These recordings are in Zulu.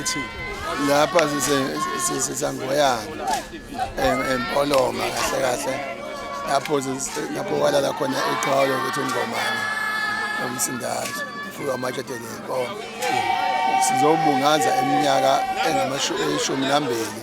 Ithini? Lapha sisangoyana empoloma kahle kahle lapho lapho walala khona iqhawulo ukuthi ungomane umsindazo ufuka amatshede nenkomo sizobungaza iminyaka engamashumi nambili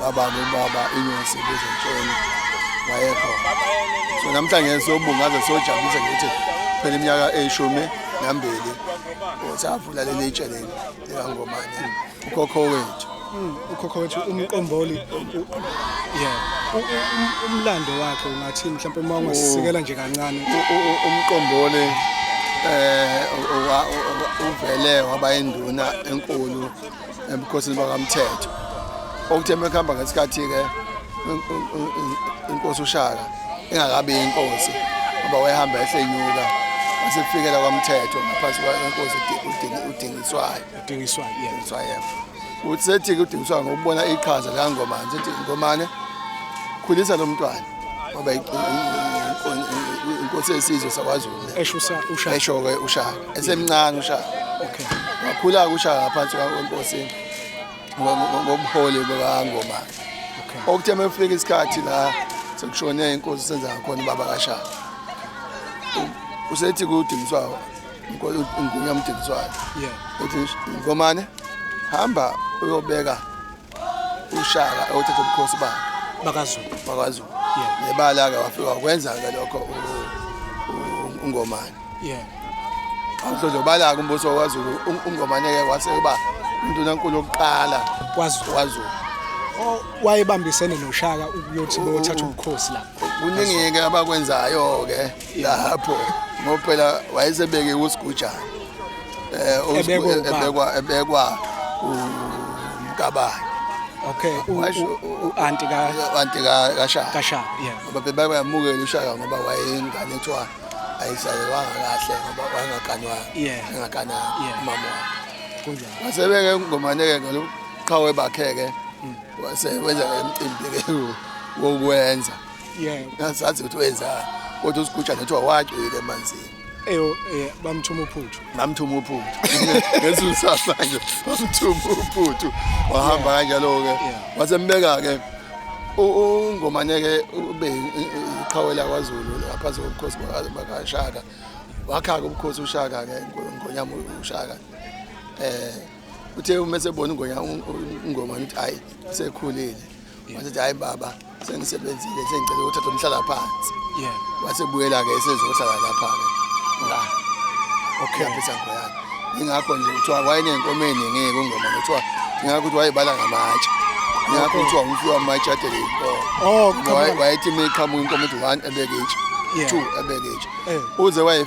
baba nobaba inyosi bezentshweni wayekhona so namhlanje sobungaze sojabulisa ngithi phela iminyaka eyishumi nambili savula leli itshe leli likangomane ukhokho wethu hmm, ukhokho wethu umqomboli yeah umlando wakhe ungathi mhlawumbe uma ungasisikela nje kancane umqomboli eh uvele waba induna enkulu ebukhosini bakamthetho okuthe mekuhamba ngesikhathi-ke inkosi ushaka ingakabi inkosi ngoba wayehamba ehlenyuka wasefikela kwamthetho ngaphansi kwenkosi udingiswayo udingiswayo uthi sethi-ke udingiswayo ngokubona iqhaza likangomane sethi ngomane khulisa lo mntwana ngoba inkosi yesizwe sakwaZulu esho uShaka esho ke uShaka esemncane uShaka okay wakhula uShaka ngaphansi kwenkosi ngobuholi bukangoma okay okuthe mefika isikhathi la sekushone inkosi senza khona baba kaShaka usethi kudingiswayo inkosi ingunya umdingiswayo yeah uthi ngomane hamba uyobeka ushaka othethe ubukhosi bakhe bakazulu bakazulu nebala-ke wafika wakwenza-ke lokho ungomane awuhlozobala-ke umbuso wakazulu ungomane-ke wase uba undunankulu wokuqala kwazulu oh, wayebambisene noshaka ukuyothi beyothatha ubukhosi lapho kuningi-ke abakwenzayo-ke lapho ngoba phela wayesebeke usigujana um ebekwa ebekwa umkabayo okay u-anti ka-anti kashaka kashaka yeah ngoba bebayamukela ushaka ngoba wayengane kuthiwa ayizalelwanga kahle ngoba wayengaganwanga Yeah. engagananga Yeah. umama wakhe kunjalo wasebeke ngomaneke ngoluqhawe bakhe-ke wase wenza-ke emcimbi-ke wokwenza yebo ngazazi ukuthi wenzani kodwa usiguja nethi wawagcwele emanzini eyo eh, bamthuma uphuthu ngamthuma uphuthu ngenza usasa nje bamthuma uphuthu wahamba kanjalo-ke Yeah. wasembeka-ke ungomaneke ube iqhawe lakwazulu ngaphansi kobukhosi baka- bakashaka wakha-ke ubukhosi ushaka-ke ngo- ngonyama ushaka um uthe uma esebona ungonyama ungomane ukuthi hhayi sekhulile wasethi hayi baba sengisebenzile sengicela ukuthatha umhlala phansi yeah wasebuyela ke esezohlala lapha ke la okay yaphetha ngo yakhe ingakho nje kuthiwa wayenenkomo eningi kungoma kuthiwa ingakho ukuthi wayebala ngamatshe ingakho kuthiwa umfiwa amatshe atele inkomo oh Ngoba waye- come wayethi uma iqhamuka inkomo ukuthi one ebeke itshe Yeah. two ebeke itshe Eh. uze waye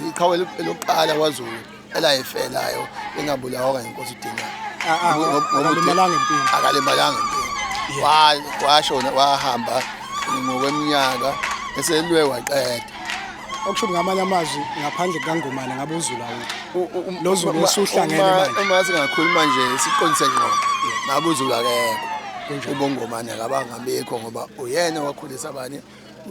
iqhawe lokuqala kwazulu elayife nayo ingabulawa kanye inkosi udinga ah, ah, akalimalanga empini akalimalanga empini washona wahamba ngokweminyaka eselwe waqeda okusho ngamanye amazwi ngaphandle kukangomane ngabe uzula lo zulu osuhlangene manje uma singakhuluma nje siqonise ngqo ngabe uzula kekho ubongomane akabangabikho ngoba uyena wakhulisa abanye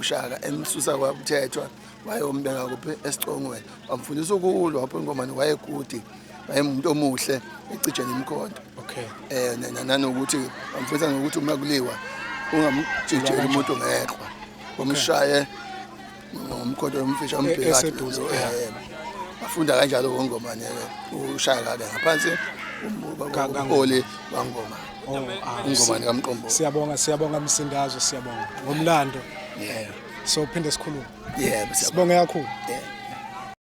ushaka emsusa kwakuthethwa wayombeka kuphi esicongweni wamfundisa ukulwa wapho ingomane wayekude wayemuntu omuhle ecija nemkhonto okay eh nanokuthi wamfundisa nokuthi uma kuliwa ungamjijela umuntu ngeqhwa wamshaye ngomkhonto wamfisha ambheka eseduze eh afunda kanjalo ngongomane ushaya kabe ngaphansi umbukwa ngoli wangoma Oh, ah, ingoma nikamqombo siyabonga siyabonga msindazo siyabonga ngomlando yeah so phinde sikhulume yeah sibonge kakhulu yeah